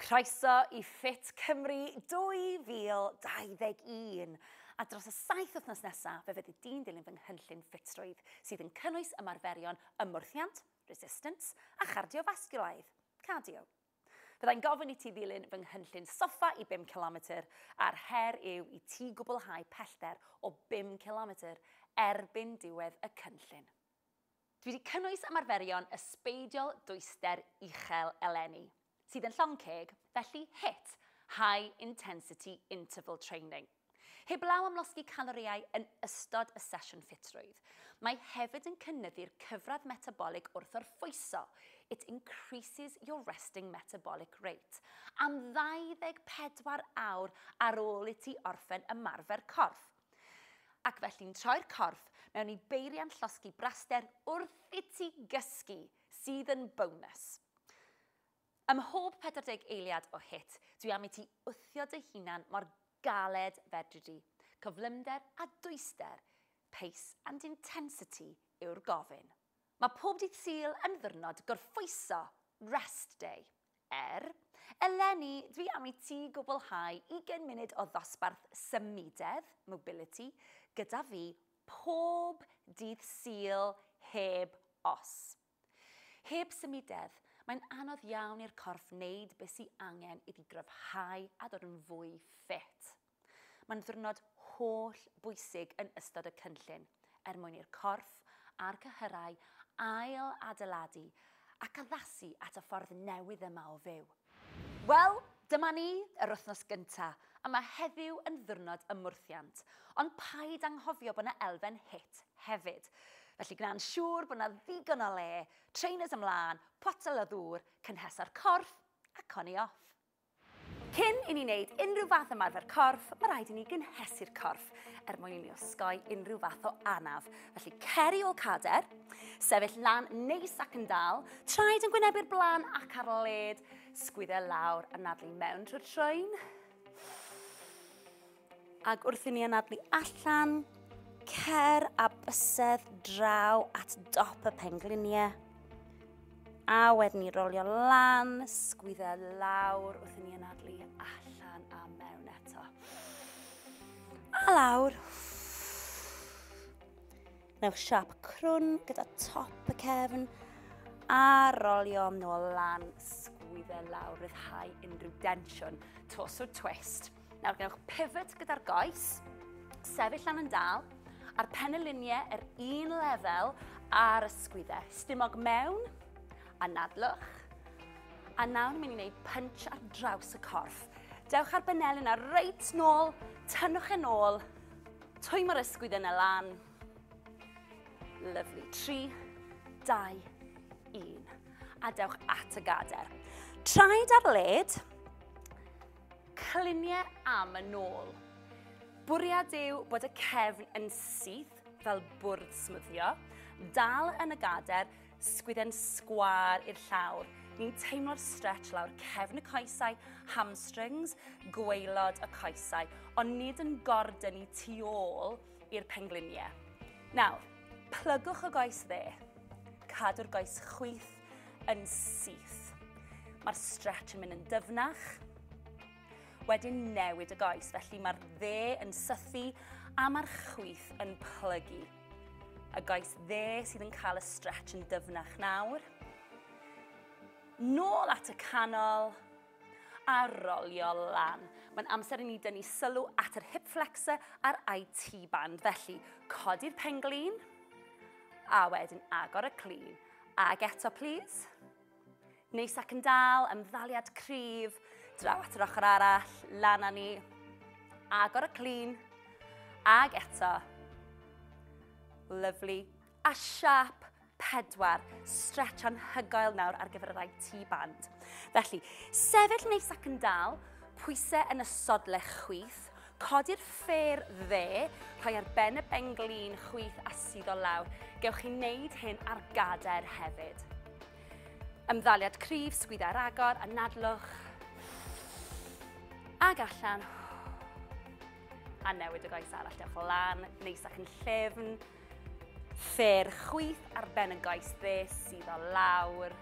Croeso i Fit Cymru 2021. A dros y saith wythnos nesaf, fe fyddi di'n dilyn fy nghynllun ffitrwydd, sydd yn cynnwys ymarferion ymwrthiant, resistance, a chardiofasgiwlaidd, cardio. Byddai'n gofyn i ti ddilyn fy nghynllun soffa i 5 km, a'r her yw i ti gwblhau pellter o 5 km erbyn diwedd y cynllun. Dwi 'di cynnwys ymarferion ysbeidiol dwyster uchel eleni, sydd yn llong ceg, felly HIIT, High Intensity Interval Training. Heblaw am losgi calorïau yn ystod y sesiwn ffitrwydd, mae hefyd yn cynyddu'r cyfradd metabolig wrth orffwyso, it increases your resting metabolic rate, am 24 awr ar ôl i ti orffen ymarfer corff. Ac felly'n troi'r corff mewn i beiriant llosgi braster wrth iti gysgu, sydd yn bonus. Ym mhob 40 eiliad o hit, dwi am iti wthio dy hunan mor galed fedri di. Cyflymder a dwyster, pace and intensity yw'r gofyn. Mae pob dydd Sul yn ddwrnod gorffwyso, rest day. Er, eleni, dwi am i ti gwblhau ugain munud o ddosbarth symudedd, mobility, gyda fi pob dydd Sul heb os. Heb symudedd, mae'n anodd iawn i'r corff wneud beth sy angen iddi gryfhau a dod yn fwy ffit. Mae'n ddiwrnod holl bwysig yn ystod y cynllun er mwyn i'r corff a'r cyhyrau ail adeiladu ac addasu at y ffordd newydd yma o fyw. Wel, dyma ni, yr wythnos gynta', a mae heddiw yn ddiwrnod ymwrthiant, ond paid anghofio bod 'na elfen hit hefyd. Felly gwna'n siŵr bod 'na ddigon o le, trainers ymlân, potel o ddŵr, cynhesa'r corff, a coni off. Cyn i ni wneud unrhyw fath ymarfer corff, mae rhaid i ni gynhesu'r corff er mwyn i ni osgoi unrhyw fath o anaf. Felly cer i ôl cader, sefyll lan neis ac yn dal, traed yn gwynebu'r blaen ac ar led, sgwydde lawr a nadlu mewn trwy'r troen. Ac wrth i ni anadlu allan, cer a bysedd draw at dop y pengliniau. A wedyn ni rolio lan, sgwydda lawr wrth i ni anadlu allan a mewn eto. A lawr. Newch siap crwn gyda top y cefn a rolio nôl lan, sgwydda lawr, rhyddhau unrhyw densiwn, tos o twist. Nawr gwnewch pivot gyda'r goes, sefyll lan yn dal, a'r penyluniau yr un lefel a'r ysgwyddau. Stumog mewn, a nadlwch. A nawr ni'n mynd i wneud punch ar draws y corff. Dewch ar benel yna reit nôl, tynnwch yn ôl, twy mae'r ysgwydd yna lan. Lovely. 3, 2, 1. A dewch at y gader. Traed ar led, Clunie am y nôl. Bwriad yw bod y cefn yn syth fel bwrdd smwddio, dal yn y gader, sgwydden sgwar i'r llawr. Ni'n teimlo'r stretch lawr cefn y coesau, hamstrings, gweilod y coesau, ond nid yn gordyn i tu ôl i'r pengliniau. Nawr, plygwch y goes dde. Cadw'r goes chwith yn syth. Mae'r stretch yn mynd yn dyfnach. Wedyn newid y goes, felly mae'r dde yn sythu a mae'r chwyth yn plygu. Y goes dde sydd yn cael y stretch yn dyfnach nawr. Nôl at y canol a rolio lan. Mae'n amser i ni dynnu sylw at yr hip flexor a'r IT band. Felly, codi'r penglin a wedyn agor y clean. Ag eto, please. Neis ac yn dal, ymddaliad cryf, draw at yr ochr arall, lan â ni. Agor y clean. Ag eto. Lovely. A siap pedwar, stretch anhygoel nawr ar gyfer y rai tu band. Felly, sefyll neis ac yn dal, pwysau yn y sodle chwith, Codi'r ffêr dde, rhoi ar ben y benglin chwith a suddo lawr. Gewch chi wneud hyn ar gader hefyd. Ymddaliad cryf, sgwydda ar agor, anadlwch. Ag allan. A newid y goes arall, dewch lan, neis ac yn llefn. Ffêr chwith ar ben y goes dde, suddo lawr.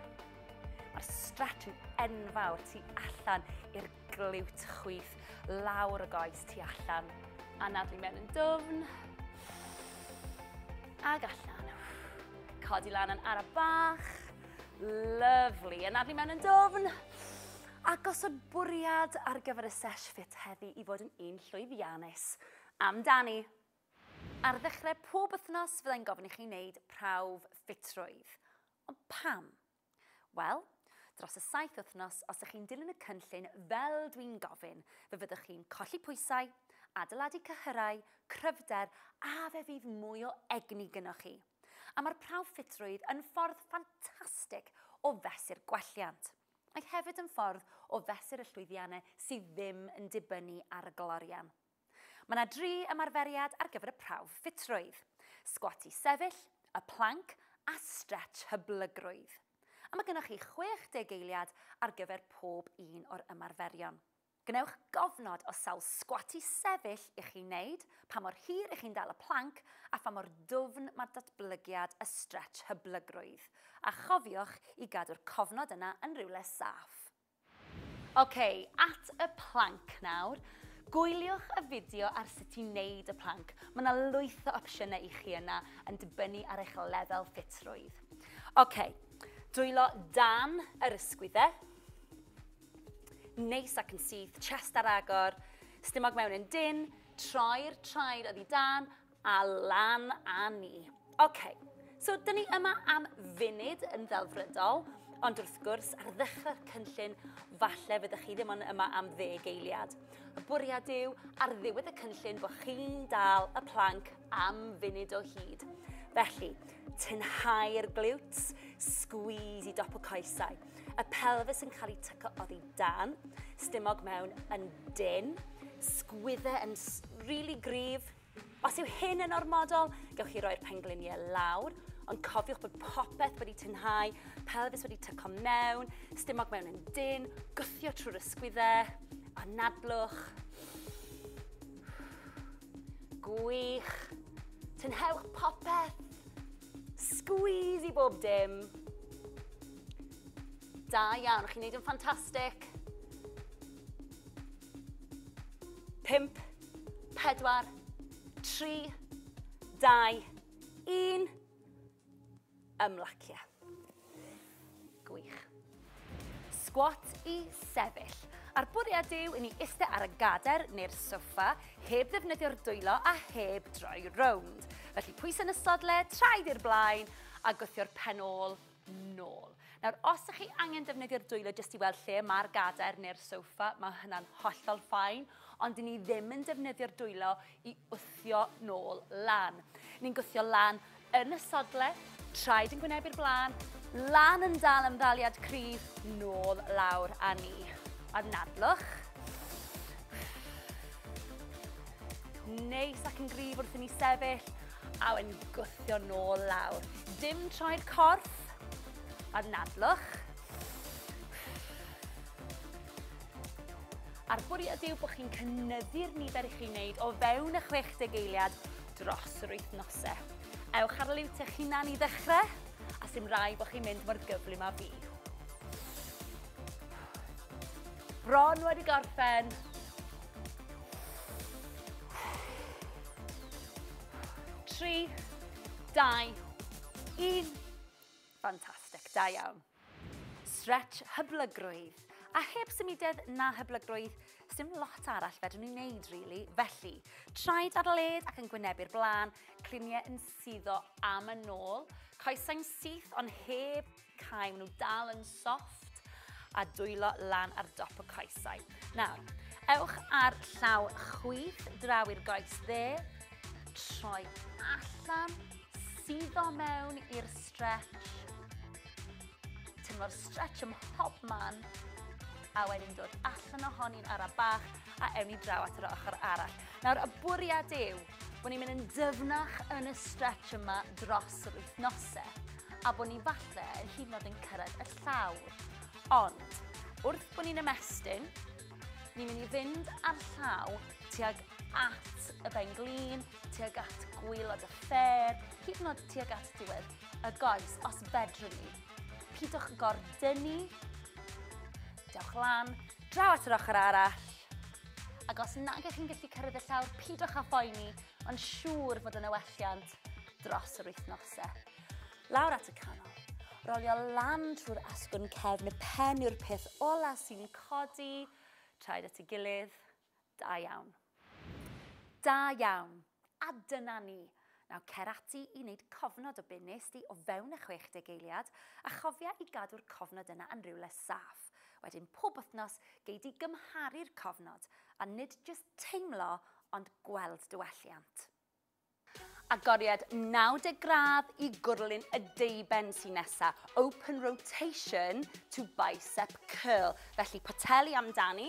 Mae'r stretch yn enfawr tu allan i'r Glywt chwith lawr y goes tu allan. Anadlu mewn yn dwfn. Ag allan. Codi lan yn ara bach. Lyflu. Anadlu mewn yn dwfn. A gosod bwriad ar gyfer y sesh fit heddi i fod yn un llwyddiannus. Amdani! Ar ddechrau pob wythnos fyddai'n gofyn i chi wneud prawf ffitrwydd. Ond pam? Wel, dros y saith wythnos, os ych chi'n dilyn y cynllun fel dwi'n gofyn, fe fyddwch chi'n colli pwysau, adeiladu cyhyrau, cryfder a fe fydd mwy o egni gynoch chi. A mae'r prawf ffitrwydd yn ffordd ffantastig o fesur gwelliant. Mae hefyd yn ffordd o fesur y llwyddiannau sydd ddim yn dibynnu ar y glorian. Mae yna dri ymarferiad ar gyfer y prawf ffitrwydd, sgwat i sefyll, y planc a strets hyblygrwydd. A mae gennych chi 60 eiliad ar gyfer pob un o'r ymarferion. Gwnewch gofnod o sawl sgwat i sefyll i chi wneud, pa mor hir i chi'n dal y planc a pha mor dwfn mae datblygiad y strets hyblygrwydd. A chofiwch i gadw'r cofnod yna yn rywle saff. Ok, at y plank nawr. Gwyliwch y fideo ar sut i wneud y plank. Mae yna lwyth o opsiynau i chi yna yn dibynnu ar eich lefel ffitrwydd. Ok, dwylo dan yr ysgwyddau. Neis ac yn syth, chest ar agor, stumog mewn yn dyn, troi'r traed oddi dan A lan a ni. OK, so dyn ni yma am funud yn ddelfrydol, ond wrth gwrs, ar ddechrau'r cynllun, falle fyddwch chi ddim ond yma am ddeg eiliad. Y bwriad yw, ar ddiwedd y cynllun, bod chi'n dal y planc am funud o hyd. Felly, tynhau'r glutes, squeeze i dop y coesau. Y pelfis yn cael ei tyco oddi dan, stumog mewn yn dyn, sgwydde yn really gryf, Os yw hyn yn ormodol, gewch chi roi'r pengliniau lawr, ond cofiwch bod popeth wedi tynhau, pelfis wedi tyco mewn, stumog mewn yn dyn, gwthio trwy'r ysgwyddau, anadlwch. Gwych. Tynhewch popeth. Squeeze i bob dim. Da iawn, chi'n neud yn ffantastig. 5, 4, 3, 2, 1. Ymlacio. Gwych. Squat i sefyll. A'r bwriad yw i ni eistedd ar y gader neu'r soffa, heb ddefnyddio'r dwylo a heb droi rownd. Felly pwys yn y sodle, traed i'r blaen a gwthio'r pen ôl nôl. Nawr, os ydych chi angen defnyddio'r dwylo jyst i weld lle mae'r gadair neu'r sofa, mae hynna'n hollol ffain, ond i ni ddim yn defnyddio'r dwylo i wthio nôl lan. Ni'n gwthio lan yn y sodle, traed yn gwynebu'r blaen, lan yn dal am ddaliad cryf, nôl lawr a ni. A nadlwch. Neis ac yn gryf wrth i ni sefyll, A wedyn gwthio nôl lawr. Dim troed corff, a'r nadlwch. A'r bwriad yw bod chi'n cynnyddu'r nifer i chi'n wneud o fewn y 60 eiliad dros yr wythnosau. Ewch ar liwt eich hunan i ddechrau, a sy'n rai bod chi'n mynd mor gyflym a fi. Bron wedi gorffen. 3, 2, 1. Fantastic, da iawn. Stretch hyblygrwydd. A heb symudedd na hyblygrwydd, sdim lot arall fedrwn ni'n neud, really. Felly, traed ar led ac yn gwynebu'r blaen, cliniau yn suddo am y nôl, coesau'n syth ond heb Cau, maen nhw dal yn soft a dwylo lan ar dop y coesau. Nawr, ewch ar llaw chwith draw i'r goes dde, troi allan, suddo mewn i'r stretch, tynnu'r stretch ym mhob man, a wedyn dod allan ohoni'n ara bach a ewn ni draw at yr ochr arall. Nawr, y bwriad yw bod ni'n mynd yn dyfnach yn y stretch yma dros yr wythnosau a bod ni falle yn hyd yn oed yn cyrraedd y llawr. Ond, wrth bod ni'n ymestyn, ni'n mynd i fynd ar llaw tuag at y ben glin, tuag at gwylod y ffer, hyd yn oed tuag at diwedd y goes, os fedrwn ni. Pidwch gordynu. Dewch lan, draw at yr ochr arall, Ac os nag ych chi'n gallu cyrraedd y llawr, pidwch â phoeni, ond siŵr fod yna welliant dros yr wythnosau. Lawr at y canol. Rolio lan trwy'r asgwrn cefn y pen yw'r peth ola sy'n codi. Traed at ei gilydd. Da iawn. Da iawn. A dyna ni! Nawr cer ati i wneud cofnod o be wnest ti o fewn y 60 eiliad, a chofia i gadw'r cofnod yna yn rywle saff. Wedyn pob wythnos gei di gymharu'r cofnod, a nid jyst teimlo ond gweld diwelliant. Agoriad 90 gradd i gwrlyn y deuben sy'n nesa, open rotation to bicep curl, felly poteli amdani,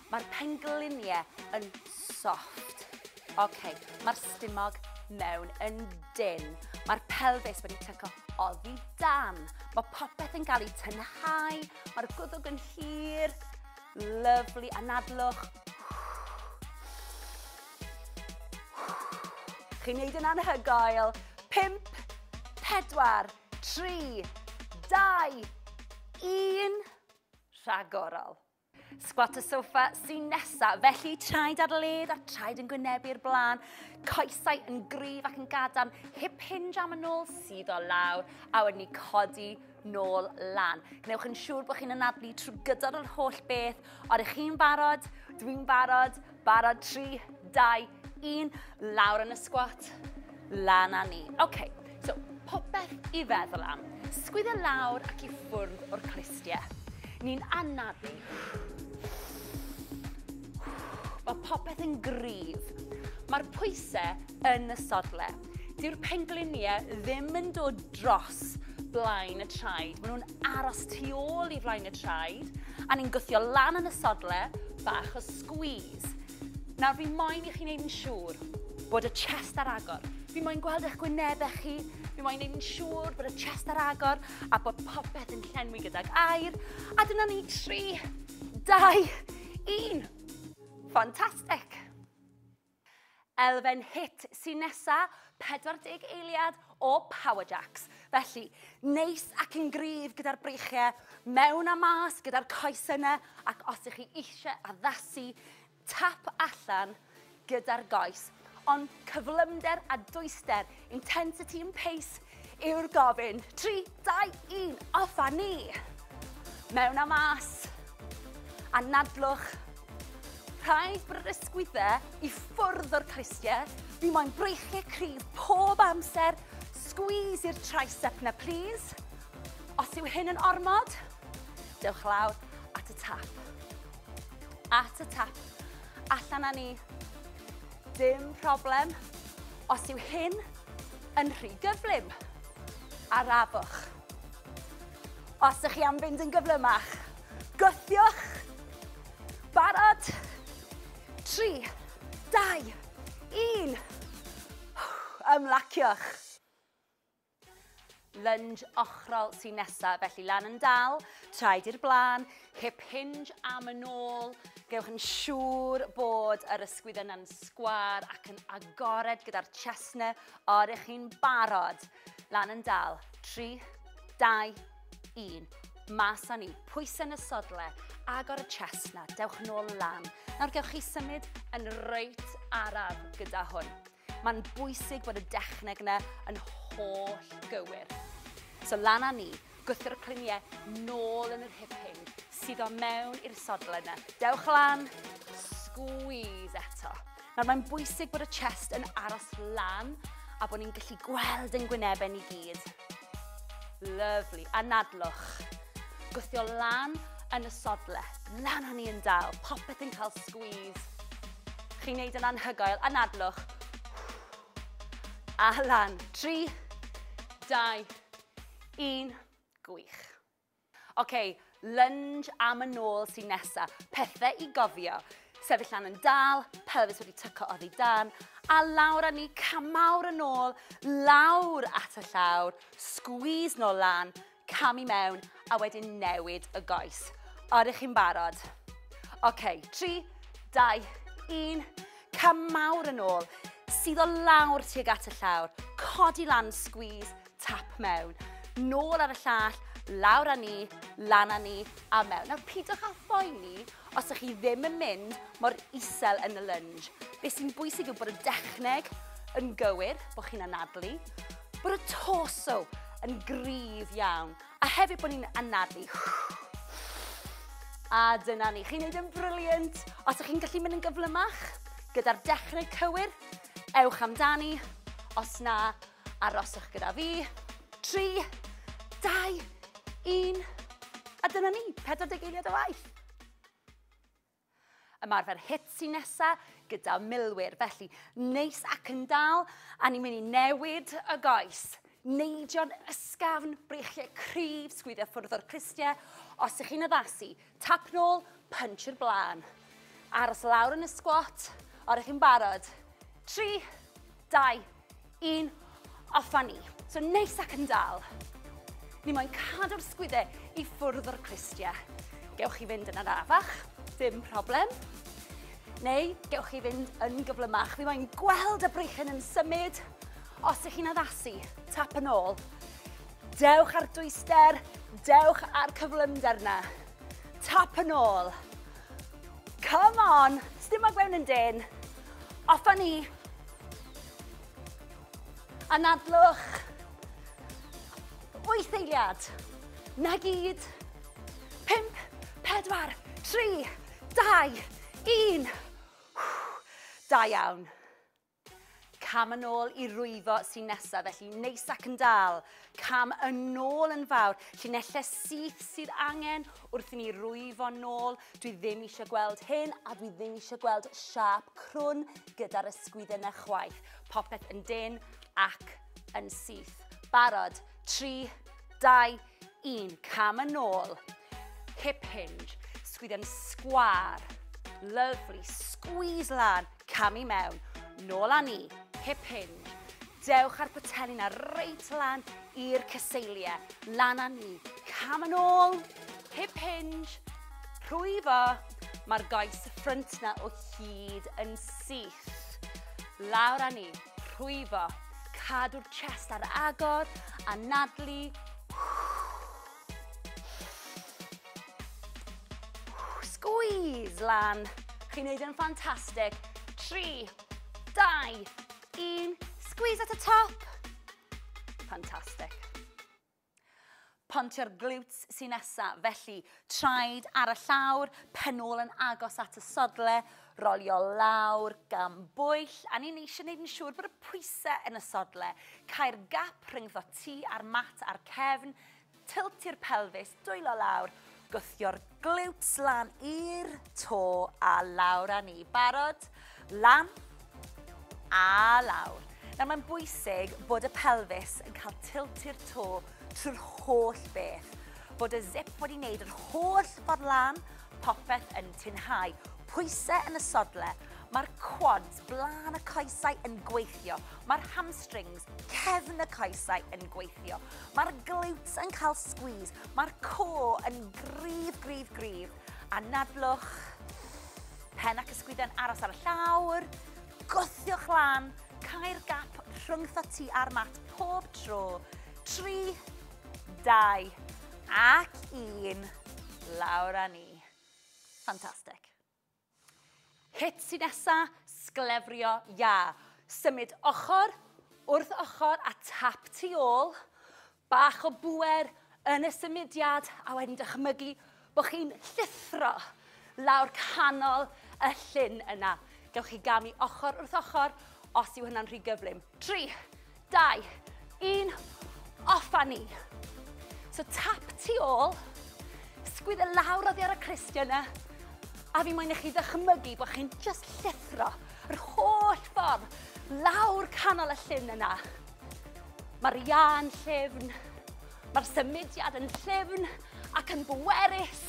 Mae'r pengliniau yn soft. OK, mae'r stumog mewn yn dynn. Mae'r pelfis wedi tyco oddi dan. Mae popeth yn cael ei tynhau. Mae'r gwddwg yn hir. Lyflu, anadlwch. Chi'n neud yn anhygoel. 5, 4, 3, 2, 1. Rhagorol. Sgwat y sofa sy'n nesa, felly traed ar led a traed yn gwynebu'r blaen, coesau yn gryf ac yn gadarn, hip hinge am y nôl sydd o lawr, a wedyn ni codi nôl lan. Gwnewch yn siŵr bod chi'n anadlu trwy gydol yr holl beth, ond ych chi'n barod, dwi'n barod, Barod, 3, 2, 1, lawr yn y sgwat, lan a ni. Oce, okay, so popeth i feddwl am. Sgwydda lawr ac i ffwrdd o'r clustiau. Ni'n anafu. Mae popeth yn gryf. Mae'r pwysau yn y sodle. Dyw'r pengliniau ddim yn dod dros blaen y traed. Maen nhw'n aros tu ôl i flaen y traed, a ni'n gwthio lan yn y sodle, bach o squeeze. Nawr, fi moyn i chi'n neud yn siŵr bod y chest ar agor. Fi moyn gweld eich gwynebau chi, fi moyn neud yn siŵr bod y chest ar agor a bod popeth yn llenwi gydag air. A dyna ni, 3, 2, 1. Fantastic! Elfen hit sy'n nesa, 40 eiliad o power jacks. Felly, neis ac yn gryf gyda'r breichiau, mewn a mas gyda'r coesau yna, ac os ych chi eisiau addasu, tap allan gyda'r goes. Ond cyflymder a dwyster, intensity and pace, Yw'r gofyn. 3, 2, 1, off a ni! Mewn a mas. Anadlwch. Rhaid brysgwydde i ffwrdd o'r clustiau. Fi moyn breichiau cryf pob amser. Squeeze i'r tricep na please. Os yw hyn yn ormod, dewch lawr at y tap. At y tap. Allan â ni. Dim problem os yw hyn yn rhy gyflym. Arafwch. Os ych chi am fynd yn gyflymach, gwthiwch. Barod? 3, 2, 1. Ymlaciwch. Lunge ochrol sy'n nesaf, felly lan yn dal, traed i'r blaen, hip hinge am yn ôl. Gewch yn siŵr bod yr ysgwydd yna'n sgwar ac yn agored gyda'r chestnau o'r eich chi'n barod. Lan yn dal, 3, 2, 1. Mas â ni, pwysau yn y sodle, agor y chestnau, dewch yn ôl lan. Nawr gewch chi symud yn reit araf gyda hwn. Mae'n bwysig bod y dechneg yna yn holl gywir. So lan â ni, gwthio'r cluniau nôl yn yr hip hyn, sydd o mewn i'r sodl yna. Dewch lan, squeeze eto. Nawr mae'n bwysig bod y chest yn aros lan a bod ni'n gallu gweld yn gwynebau ni gyd. Lyfli. Anadlwch. Gwthio lan yn y sodle. Lan o'n i yn dal. Popeth yn cael squeeze. Chi'n neud yn anhygoel. Anadlwch. A lan. Tri, dau, un. Gwych. Oce, lunge am y nôl sy'n nesa. Pethe i gofio. Sefyll lan yn dal, pelfis wedi tyco oddi dan, a lawr a ni camawr yn ôl, lawr at y llawr, squeeze nôl lan, cam i mewn, a wedyn newid y goes. Oeddech chi'n barod? Oce, 3, 2, 1, camawr yn ôl, sydd o lawr tuag at y llawr, codi lan, squeeze, Tap mewn, nôl ar y llall, lawr â ni, lan â ni, a mewn. Nawr, pidwch â phoeni os ydych chi ddim yn mynd mor isel yn y lunge. Be sy'n bwysig yw bod y dechneg yn gywir, bod chi'n anadlu, bod y torso yn gryf iawn, a hefyd bod ni'n anadlu. A dyna ni, chi'n neud yn briliant. Os ydych chi'n gallu mynd yn gyflymach, gyda'r dechneg cywir, ewch amdani. Os na, Aroswch gyda fi. Tri, dau, un. A dyna ni, 40 eiliad o waith. Ymarfer hit sy'n nesa gyda milwyr, felly neis ac yn dal, a ni'n mynd i newid y goes neidio'n ysgafn, breichiau cryf, sgwyddio ffwrdd o'r clustiau. Os ych chi'n addasu, Tap nôl, punch i'r blaen. Aros lawr yn y squat, a rydych chi'n barod. 3, 2, 1, off a ni. So neis ac yn dal. Ni moyn cadw'r sgwydde i ffwrdd o'r clustia. Gewch chi fynd yn arafach, dim problem. Neu gewch chi fynd yn gyflymach. Fi moyn gweld y breichen yn symud. Os ych chi'n addasu, tap yn ôl. Dewch ar dwyster, dewch ar cyflymder na. Tap yn ôl. Come on, sdim ag mewn yn dyn. Off a ni. Anadlwch. Wyth eiliad. Na gyd. Pimp, pedwar, tri, dau, un. Da iawn. Cam yn ôl i rwyfo sy'n nesaf, felly neis ac yn dal. Cam yn ôl yn fawr, llinellau syth sydd angen wrth i ni rwyfo nôl. Dwi ddim eisiau gweld hyn a dwi ddim eisiau gweld siap crwn gyda'r ysgwydden na chwaith. Popeth yn dyn ac yn syth. Barod, 3, 2, Un cam yn ôl. Hip hinge. Sgwydden sgwar. Lovely. Squeeze lan. Cam i mewn. Nôl â ni. Hip hinge. Dewch ar potelli na reit lan i'r cyseiliau. Lan a ni. Cam yn ôl. Hip hinge. Rhwyfo. Mae'r goes ffrynt na o hyd yn syth. Lawr a ni. Rhwyfo. Cadw'r chest ar agor, anadlu. Squeeze lan. Chi'n neud yn ffantastig. 3, 2, 1. Squeeze at y top. Ffantastig. Pontio'r glutes sy'n nesa, felly traed ar y llawr, pen ôl yn agos at y sodle, rolio lawr gan bwyll, a ni'n eisiau gwneud yn siŵr bod y pwysau yn y sodle. Cael gap rhyngddo ti a'r mat a'r cefn, tiltio'r pelfis, dwylo lawr, Gwthio'r glutes lan i'r to a lawr â ni. Barod? Lan a lawr. Nawr mae'n bwysig bod y pelfis yn cael tilt i'r to trwy'r holl beth. Bod y zip wedi wneud yr holl ffordd lan, popeth yn tinhau. Pwysau yn y sodle, Mae'r quads, blaen y coesau, yn gweithio. Mae'r hamstrings, cefn y coesau, yn gweithio. Mae'r glutes yn cael squeeze, mae'r core yn gryf, gryf, gryf. Anadlwch, pen ac ysgwydden aros ar y llawr, gwthiwch lan, cael gap rhwng thoti a'r mat pob tro. 3, 2 ac 1, lawr â ni. Fantastic. Hit sy'n nesa, sglefrio iâ. Symud ochr wrth ochr a tap tu ôl. Bach o bŵer yn y symudiad a wedyn dychmygu bod chi'n llithro lawr canol y llyn yna. Gewch chi gamu ochr wrth ochr os yw hynna'n rhy gyflym. 3, 2, 1, off a ni. So tap tu ôl, sgwyddo e lawr oddi ar y cristion yna, a fi moyn i chi ddychmygu bod chi'n just llithro yr holl ffordd lawr canol y llun yna. Mae'r ian llefn, mae'r symudiad yn llefn ac yn bwerus.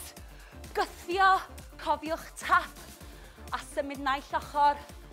Gythio, cofiwch tap a symud naill ochr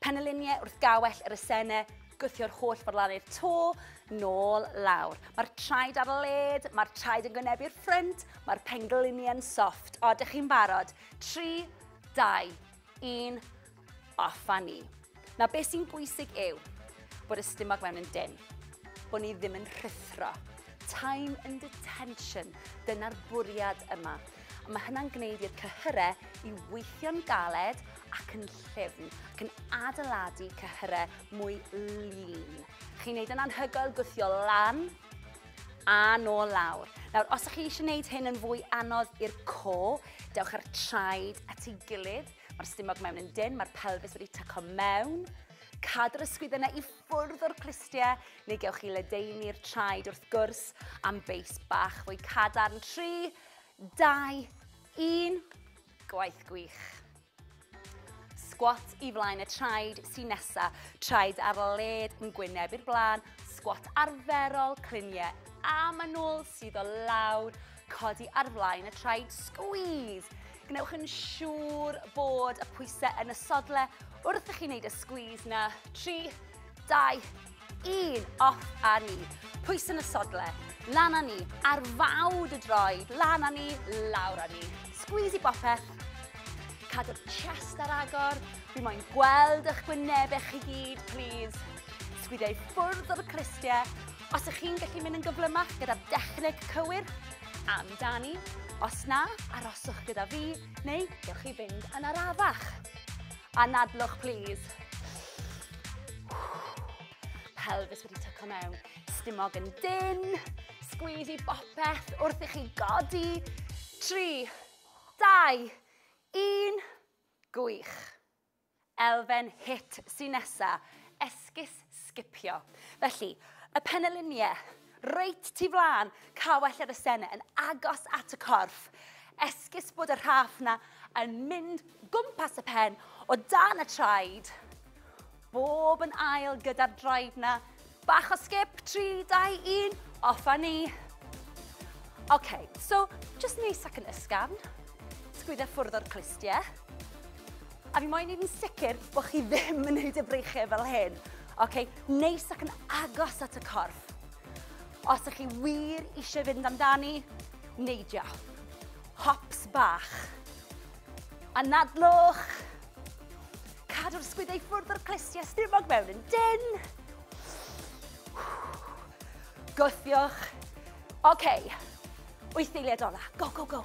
Penyluniau wrth gawell yr esene, gwthio'r holl forlannu'r to, nôl lawr. Mae'r traed ar led, mae'r traed yn gwynebu'r ffrynt, mae'r pengluniau'n soft. O, dych chi'n barod? 3, 2, 1, off a ni. Na, beth sy'n bwysig yw bod y stumog mewn yn dyn, bod ni ddim yn rhuthro. Time and detention, dyna'r bwriad yma. a mae hynna'n gwneud i'r cyhyrau i weithio'n galed ac yn llyfn, ac yn adeiladu cyhyrau mwy lean. Chi'n gwneud yn anhygoel gwthio lan a nôl lawr. Nawr, os ydych chi eisiau gwneud hyn yn fwy anodd i'r co, dewch ar traed at ei gilydd. Mae'r stumog mewn yn dyn, mae'r pelfis wedi tyco mewn. Cadw'r ysgwydd yna i ffwrdd o'r clustiau, neu gewch chi ledeini'r traed wrth gwrs am beis bach fwy cadarn. 3, 2, 1, gwaith gwych. Squat i flaen y traed sy'n nesa, traed ar led yn gwyneb i'r blaen, squat arferol, cliniau a manwl sydd o lawr, codi ar flaen y traed, squeeze. Gwnewch yn siŵr bod y pwysau yn y sodle wrth i chi wneud y squeeze na. 3, 2, Un, off a ni. Pwys yn y sodle, lan a ni. Ar fawd y droed, lan a ni, lawr a ni. Squeeze i bopeth. Cadw'r chest ar agor. Fi moyn gweld eich gwynebau chi gyd, please. Sgwidiau ffwrdd o'r clistiau. Os ych chi'n gallu mynd yn gyflymach gyda'r dechneg cywir, amdani. Os na, aroswch gyda fi, neu gewch chi fynd yn arafach. Anadlwch plîs. Pelfis wedi tyco mewn. Stumog yn dyn. Sgwyd i bopeth wrth i chi godi. 3, 2, 1. Gwych. Elfen hit sy'n nesa. Esgus sgipio. Felly, y peneliniau, reit tu flaen, cawell ar y sena yn agos at y corff. Esgus bod y rhaff na yn mynd gwmpas y pen o dan y traed. Bob yn ail gyda'r drive na. Bach o sgip, 3, 2, 1, off a ni. OK, so, just neis ac yn ysgafn. Sgwydda ffwrdd o'r clustiau. A fi moyn neud yn sicr bo' chi ddim yn neud y breichie fel hyn. Oce, neis ac yn agos at y corff. Os ych chi wir eisiau fynd amdani, neidio. Hops bach. Anadlwch. Cadw'r sgwydau ffwrdd o'r clustiau stumog mewn yn dyn. Gwthiwch. Oce, wyth eiliad ola. Go, go, go.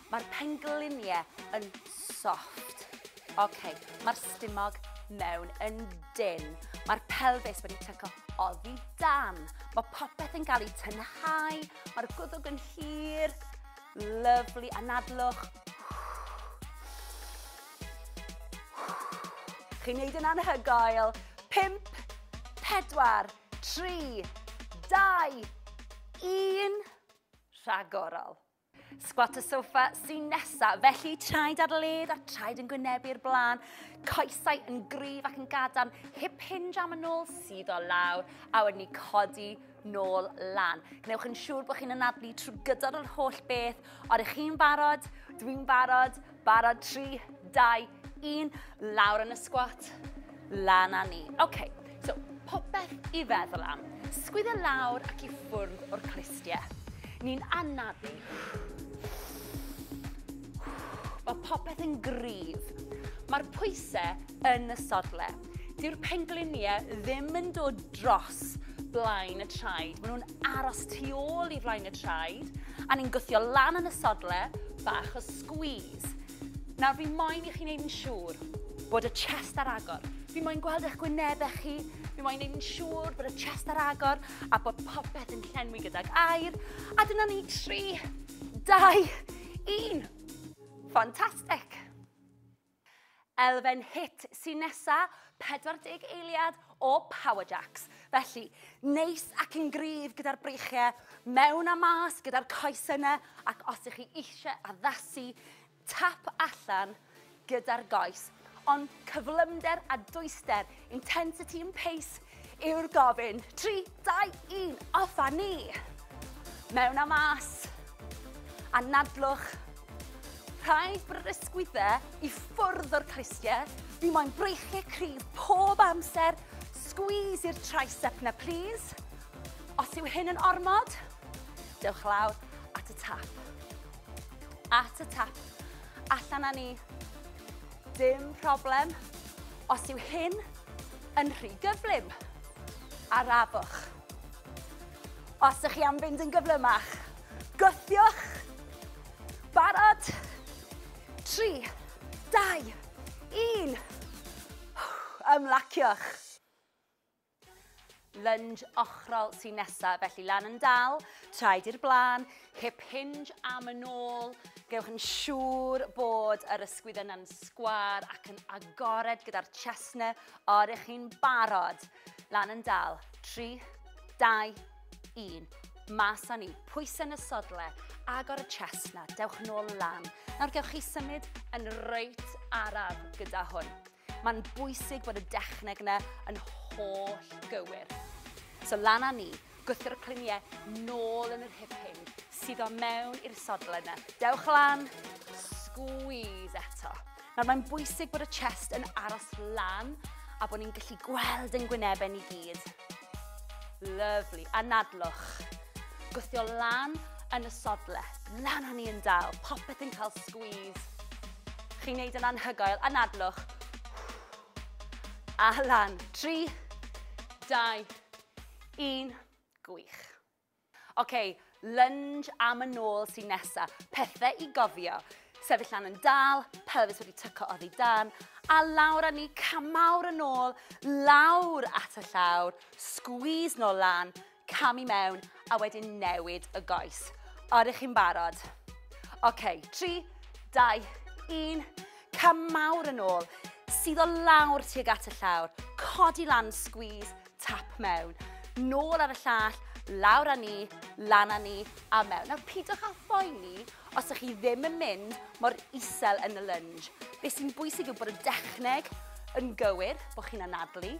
Mae'r penglinie yn soft. Ok, mae'r stumog mewn yn dyn. Mae'r pelfis wedi tyco oddi dan. Mae popeth yn cael ei tynhau. Mae'r gwddwg yn hir. Lyflu anadlwch. Chi'n neud yn anhygoel. 5, 4, 3, 2, 1. Rhagorol. Squat y sofa sy'n nesa, felly traed ar led a traed yn gwynebu'r blaen, coesau yn gryf ac yn gadarn, hip hinge am y nôl sydd o lawr, a wedyn ni codi nôl lan. Gwnewch yn siŵr bod chi'n anadlu trwy gydol yr holl beth, ond ych chi'n barod, dwi'n barod, Barod, 3, 2, 1, lawr yn y sgwat, lan a ni. Oce, okay, so popeth i feddwl am. Sgwydda lawr ac i ffwrdd o'r clustiau. Ni'n anafu. Mae popeth yn gryf. Mae'r pwysau yn y sodle. Dyw'r pengliniau ddim yn dod dros blaen y traed. Maen nhw'n aros tu ôl i flaen y traed, a ni'n gwthio lan yn y sodle, bach o squeeze. Nawr, fi moyn i chi'n neud yn siŵr bod y chest ar agor. Fi moyn gweld eich gwynebau chi, fi moyn neud yn siŵr bod y chest ar agor a bod popeth yn llenwi gydag air. A dyna ni, 3, 2, 1. Fantastic! Elfen hit sy'n nesa, 40 eiliad o power jacks. Felly, neis ac yn gryf gyda'r breichiau, mewn a mas gyda'r coesau yna, ac os ych chi eisiau addasu, tap allan gyda'r goes. Ond cyflymder a dwyster Intensity and pace yw'r gofyn. 3, 2, 1, off a ni! Mewn a mas. Anadlwch. Rhai brysgwydde i ffwrdd o'r clustiau. Fi moyn breichiau cryf pob amser. Squeeze i'r tricep na, please. Os yw hyn yn ormod, dewch lawr at y tap. At y tap. Allan â ni. Dim problem os yw hyn yn rhy gyflym. Arafwch. Os ych chi am fynd yn gyflymach, gwthiwch. Barod? 3, 2, 1. Ymlaciwch. Lunge ochrol sy'n nesaf, felly lan yn dal, traed i'r blaen, hip hinge am yn ôl. Gewch yn siŵr bod yr ysgwydd yna'n sgwar ac yn agored gyda'r chestnau o'r eich chi'n barod. Lan yn dal, 3, 2, 1. Mas â ni, pwysau yn y sodle, agor y chestnau, dewch yn ôl lan. Nawr gewch chi symud yn reit araf gyda hwn. Mae'n bwysig bod y dechneg yna yn holl gywir. So lan â ni, gwthio'r y cluniau nôl yn yr hip hyn, sydd o mewn i'r sodl yna. Dewch lan, squeeze eto. Nawr mae'n bwysig bod y chest yn aros lan a bod ni'n gallu gweld yn gwynebau ni gyd. Lyfli. Anadlwch. Gwthio lan yn y sodle. Lan o'n ni yn dal. Popeth yn cael squeeze. Chi'n neud yn anhygoel. Anadlwch. A lan. 3, 2, 1. Gwych. Oce, lunge am y nôl sy'n nesa. Pethe i gofio. Sefyll lan yn dal, pelfis wedi tyco oddi dan, a lawr a ni camawr yn ôl, lawr at y llawr, squeeze nôl lan, cam i mewn, a wedyn newid y goes. Oeddech chi'n barod? Oce, 3, 2, 1, camawr yn ôl, sydd o lawr tuag at y llawr, codi lan, squeeze, Tap mewn, nôl ar y llall, lawr â ni, lan â ni a mewn. Nawr pidwch â phoeni os ydych chi ddim yn mynd mor isel yn y lunge. Be sy'n bwysig yw bod y dechneg yn gywir, bod chi'n anadlu,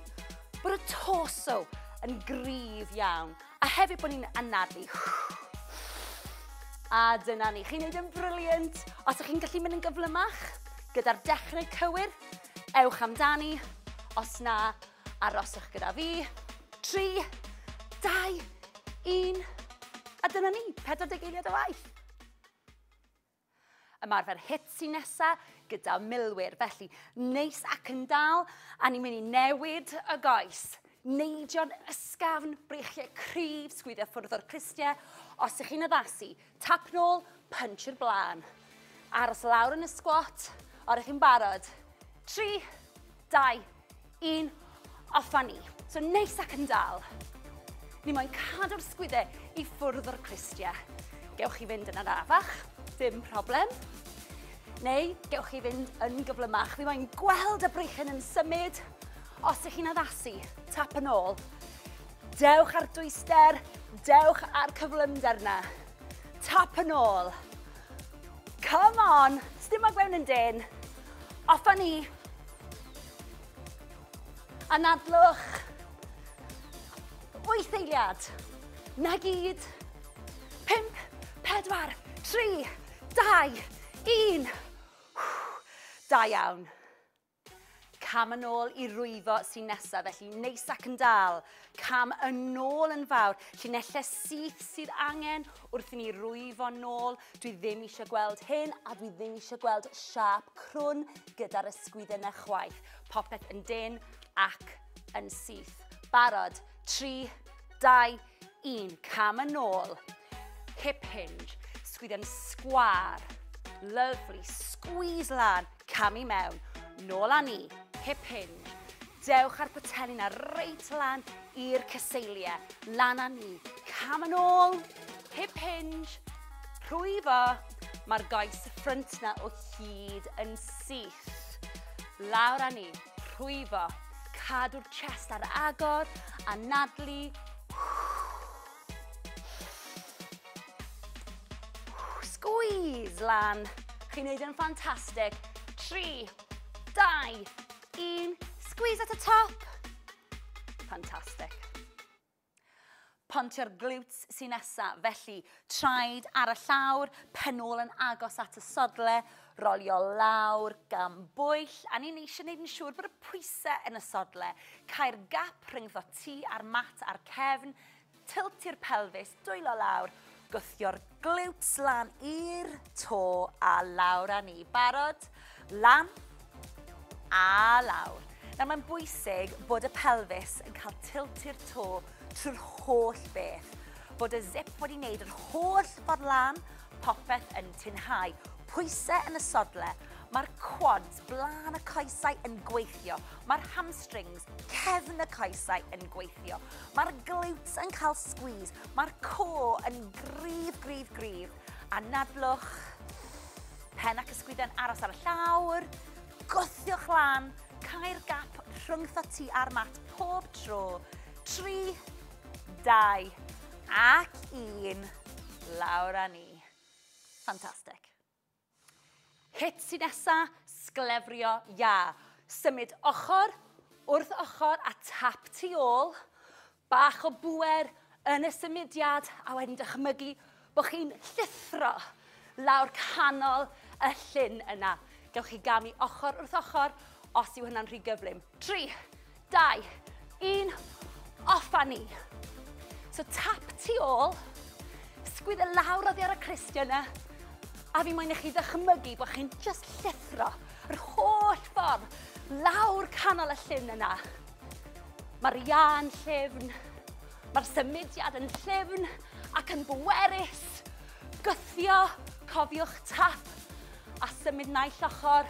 bod y torso yn gryf iawn, a hefyd bod ni'n anadlu. A dyna ni, chi'n neud yn briliant. Os ydych chi'n gallu mynd yn gyflymach, gyda'r dechneg cywir, ewch amdani. Os na, Aroswch gyda fi. 3, 2, 1. A dyna ni, 40 eiliad o waith. Ymarfer hit sy'n nesa gyda milwyr, felly neis ac yn dal, a ni'n mynd i newid y goes neidio'n ysgafn, breichiau cryf, sgwyddio ffwrdd o'r clustiau. Os ych chi'n addasu, Tap nôl, punch i'r blaen. Aros lawr yn y squat, a rydych chi'n barod. 3, 2, 1, off a ni. So neis ac yn dal. Ni moyn cadw'r sgwydde i ffwrdd o'r clustia. Gewch chi fynd yn arafach, dim problem. Neu gewch chi fynd yn gyflymach. Fi moyn gweld y breichen yn symud. Os ych chi'n addasu, tap yn ôl. Dewch â'r dwyster, dewch â'r cyflymder na. Tap yn ôl. Come on, sdim ag mewn yn dyn. Off a ni. Anadlwch. Wyth eiliad. Na gyd. Pimp, pedwar, tri, dau, un. Da iawn. Cam yn ôl i rwyfo sy'n nesaf, felly neis ac yn dal. Cam yn ôl yn fawr, llinellau syth sydd angen wrth i ni rwyfo nôl. Dwi ddim eisiau gweld hyn a dwi ddim eisiau gweld siap crwn gyda'r ysgwydden na chwaith. Popeth yn dyn ac yn syth. Barod, 3, 2, Un cam yn ôl. Hip hinge. Sgwydden sgwar. Lovely. Squeeze lan. Cam i mewn. Nôl â ni. Hip hinge. Dewch ar potelli na reit lan i'r cyseiliau. Lan a ni. Cam yn ôl. Hip hinge. Rhwyfo. Mae'r goes ffrynt na o hyd yn syth. Lawr a ni. Rhwyfo. Cadw'r chest ar agor, anadlu. Squeeze lan. Chi'n neud yn ffantastig. 3, 2, 1. Squeeze at y top. Ffantastig. Pontio'r glutes sy'n nesa, felly traed ar y llawr, pen ôl yn agos at y sodle, rolio lawr gan bwyll, a ni'n eisiau gwneud yn siŵr bod y pwysau yn y sodle. Cael gap rhyngddo ti a'r mat a'r cefn, tiltio'r pelfis, dwylo lawr, Gwthio'r glutes lan i'r to a lawr â ni. Barod? Lan a lawr. Nawr mae'n bwysig bod y pelfis yn cael tilt i'r to trwy'r holl beth. Bod y zip wedi wneud yr holl ffordd lan, popeth yn tinhau. Pwysau yn y sodle, Mae'r quads, blaen y coesau, yn gweithio. Mae'r hamstrings, cefn y coesau, yn gweithio. Mae'r glutes yn cael squeeze, mae'r core yn gryf, gryf, gryf. Anadlwch, pen ac ysgwydden aros ar y llawr, gwthiwch lan, cael gap rhwng thoti a'r mat pob tro. 3, 2 ac 1, lawr â ni. Fantastic. Hit sy'n nesa, sglefrio iâ. Symud ochr wrth ochr a tap tu ôl. Bach o bŵer yn y symudiad a wedyn dychmygu bod chi'n llithro lawr canol y llyn yna. Gewch chi gamu ochr wrth ochr os yw hynna'n rhy gyflym. 3, 2, 1, off a ni. So tap tu ôl, sgwyddo e lawr oddi ar y cristion yna, a fi moyn i chi ddychmygu bod chi'n just llithro yr holl ffordd lawr canol y llun yna. Mae'r ian llefn, mae'r symudiad yn llefn ac yn bwerus. Gythio, cofiwch tap a symud naill ochr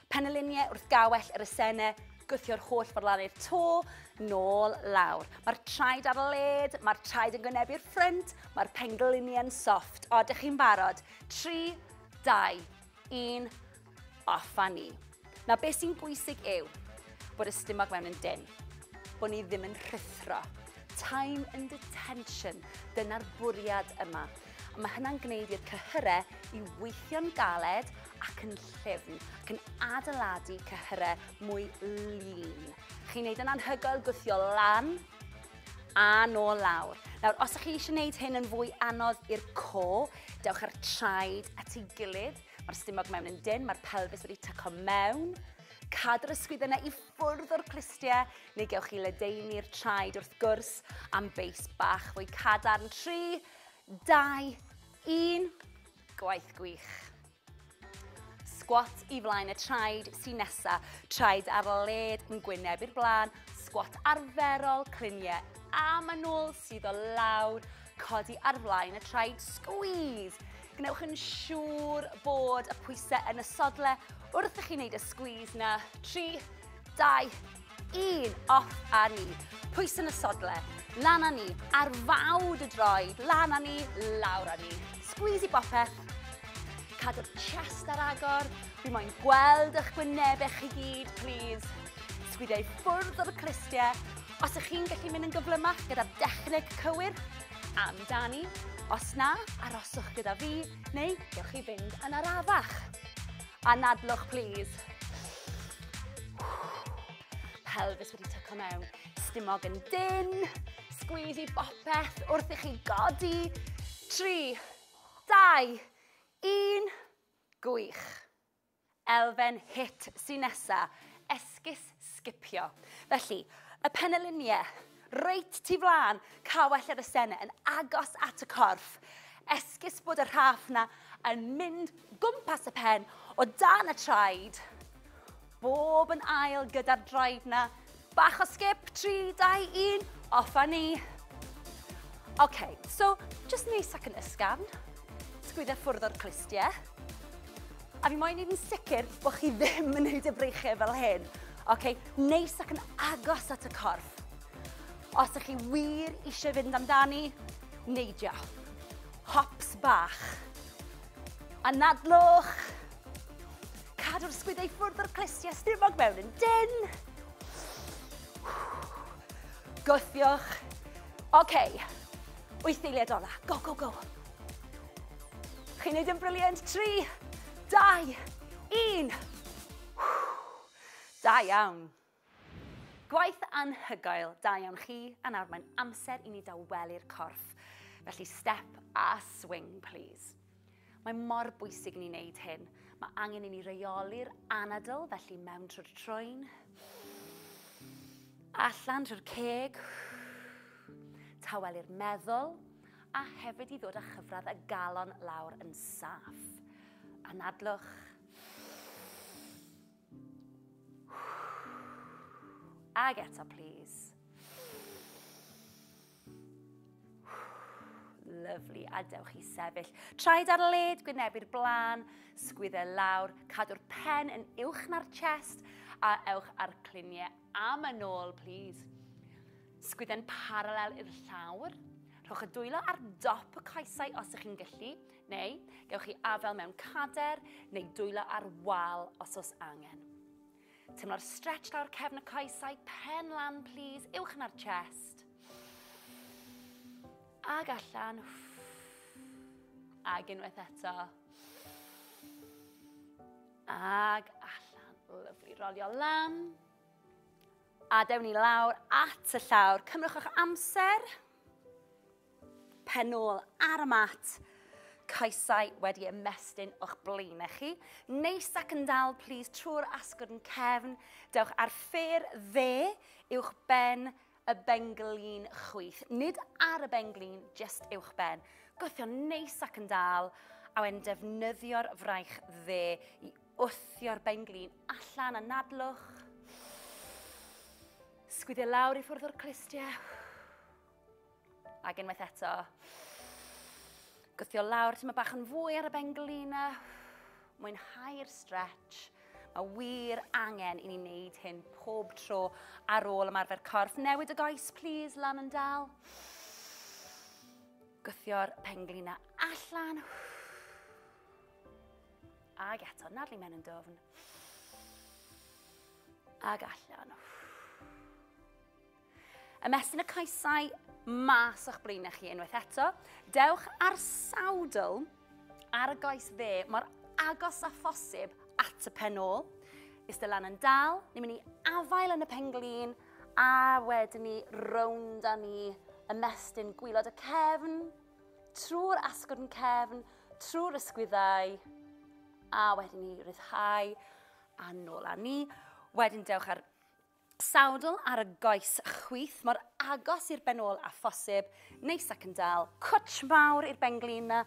Penyluniau wrth gawell yr esene, gwthio'r holl forlannu'r to, nôl lawr. Mae'r traed ar led, mae'r traed yn gwynebu'r ffrynt, mae'r pengluniau'n soft. O, dych chi'n barod? 3, 2, 1, off a ni. Na, beth sy'n bwysig yw bod y stumog mewn yn dyn, bod ni ddim yn rhuthro. Time and attention, dyna'r bwriad yma. a mae hynna'n gwneud i'r cyhyrau i weithio'n galed ac yn llyfn, ac yn adeiladu cyhyrau mwy lean. Chi'n gwneud yn anhygoel gwthio lan a nôl lawr. Nawr, os ydych chi eisiau gwneud hyn yn fwy anodd i'r co, dewch ar traed at ei gilydd. Mae'r stumog mewn yn dyn, mae'r pelfis wedi tyco mewn. Cadw'r ysgwydd yna i ffwrdd o'r clustiau, neu gewch chi ledeini'r traed wrth gwrs am beis bach fwy cadarn. 3, 2, 1, gwaith gwych. Squat i flaen y traed sy'n nesa, traed ar led yn gwyneb i'r blaen, squat arferol, cliniau a manwl sydd o lawr, codi ar flaen y traed, squeeze. Gwnewch yn siŵr bod y pwysau yn y sodle wrth i chi wneud y squeeze na. 3, 2, Un, off a ni. Pwys yn y sodle, lan a ni. Ar fawd y droed, lan a ni, lawr a ni. Squeeze i bopeth. Cadw'r chest ar agor. Fi moyn gweld eich gwynebau chi gyd, please. Sgwidiau ffwrdd o'r clistiau. Os ych chi'n gallu mynd yn gyflymach gyda'r dechneg cywir, amdani. Os na, aroswch gyda fi, neu gewch chi fynd yn arafach. Anadlwch plîs. Pelfis wedi tyco mewn. Stumog yn dyn. Sgwyd i bopeth wrth i chi godi. 3, 2, 1. Gwych. Elfen hit sy'n nesa. Esgus sgipio. Felly, y peneliniau, reit tu flaen, cawell yr ysene yn agos at y corff. Esgus bod y rhaff na yn mynd gwmpas y pen o dan y traed. Bob yn ail gyda'r draed na. Bach o sgip, 3, 2, 1, off a ni. OK, so, just neis ac yn ysgafn. Sgwydda ffwrdd o'r clustiau. A fi moyn neud yn sicr bo' chi ddim yn neud y breichie fel hyn. Oce, neis ac yn agos at y corff. Os ych chi wir eisiau fynd amdani, neidio. Hops bach. Anadlwch. Cadw'r sgwydau ffwrdd o'r clustiau stumog mewn yn dyn. Gwthiwch. Oce, wyth eiliad ola. Go, go, go. Chi'n neud yn brilliant, tri, dau, un. Da iawn. Gwaith anhygoel, da iawn chi, a nawr mae'n amser i ni dawelu'r corff. Felly step a swing, please. Mae mor bwysig ni wneud hyn. Mae angen i ni reoli'r anadl, felly mewn trwy'r troen. Allan trwy'r ceg. Tawelu'r meddwl. a hefyd i ddod â chyfradd y galon lawr yn saff. Anadlwch. Ag eto, please. Lyflu, a dewch i sefyll. Traed ar led, gwynebu'r blaen, sgwydde lawr, cadw'r pen yn uwch na'r chest, a ewch a'r cluniau am yn ôl, please. Sgwydden paralel i'r llawr. Rhowch y dwylo ar dop y coesau os ych chi'n gallu, neu gewch chi afael mewn cader neu dwylo ar wal os oes angen. Teimlo'r stretch lawr cefn y coesau, pen lan plîs, uwch yn ar chest. Ag allan. Ag unwaith eto. Ag allan. Lyflu, rolio lan. A dewn ni lawr at y llawr. Cymrwch eich amser. Pen ôl ar y mat. Coesau wedi ymestyn o'ch blaen chi. Neis ac yn dal, please, trwy'r asgwrn cefn. Dewch ar ffyr dde uwch ben y benglin chwith. Nid ar y benglin, just uwch ben. Gwthio neis ac yn dal, a wedyn defnyddio'r fraich dde i wthio'r benglin allan a nadlwch. Sgwyddio lawr i ffwrdd o'r clustiau. Ac unwaith eto. Gwthio lawr, ti'n bach yn fwy ar y benglina. Mwynhau'r stretch. Mae wir angen i ni wneud hyn pob tro ar ôl ymarfer corff. Newid y goes, please, lan yn dal. Gwthio'r penglina allan. Ag eto, nadlu mewn yn dofn. Ag allan. Ymestyn y coesau mas o'ch blaenau chi unwaith eto. Dewch ar sawdl ar y goes dde mor agos a phosib at y pen ôl. Ystel lan yn dal, ni'n mynd i afael yn y penglin a wedyn ni rownd a ni ymestyn gwylod y cefn, trwy'r asgwrn yn cefn, trwy'r ysgwyddau a wedyn ni ryddhau a nôl a ni. Wedyn dewch ar Sawdl ar y goes chwith, mor agos i'r ben ôl â phosib, neis ac yn dal. Cwtsh mawr i'r benglin 'na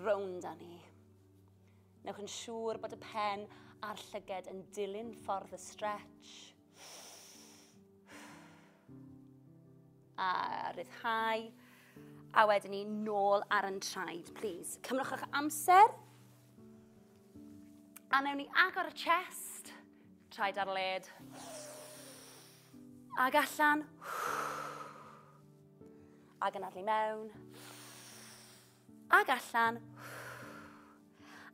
rownd â ni. Newch yn siŵr bod y pen a'r llyged yn dilyn ffordd y stretch. A ryddhau. A wedyn ni nôl ar yn traed, please. Cymrwch eich amser. A newn ni agor y chest, traed ar led. Ag allan. Ag yn adlu mewn. Ag allan.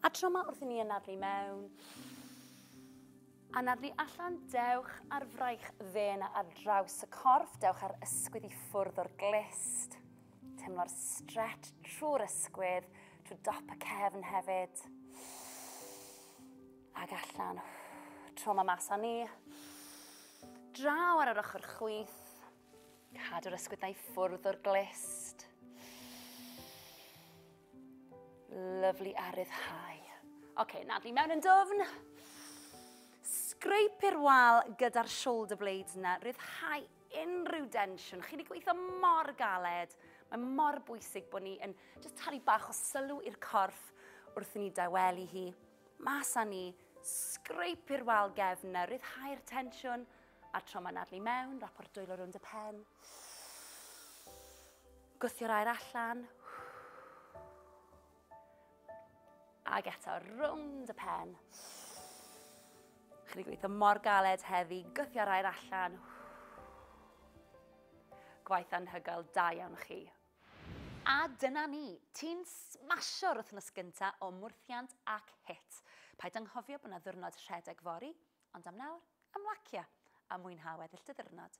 A tro ma wrth i ni yn adlu mewn. Anadlu allan, dewch ar fraich ddên ar draws y corff, dewch ar ysgwydd i ffwrdd o'r glist. Teimlo'r stretch trwy'r ysgwydd, trwy dop y cefn hefyd. Ag allan. Tro ma mas â ni. Draw ar yr ochr chwith. Cadw yr ysgwyddau i ffwrdd o'r glist. Lyflu a ryddhau. Oce, okay, nadlu mewn yn dwfn. Scrape i'r wal gyda'r shoulder blades yna, ryddhau unrhyw densiwn. Chi'n ei gweithio mor galed. Mae mor bwysig bod ni yn just talu bach o sylw i'r corff wrth i ni dawelu hi. Mas â ni, scrape i'r wal gefn yna, ryddhau'r tensiwn. Scrape A'r tro mae'n arni mewn, rapor dwylo rownd y pen. Gwthio'r air allan. Ac eto, rownd y pen. Chi wedi gweithio mor galed heddi, gythio'r air allan. Gwaith anhygoel, da iawn chi. A dyna ni, ti'n smasio'r wythnos gynta o mwrthiant ac hit. Paid anghofio bod yna ddwrnod rhedeg fori, Ond am nawr, ymlacia a mwynha weddill dy ddiwrnod!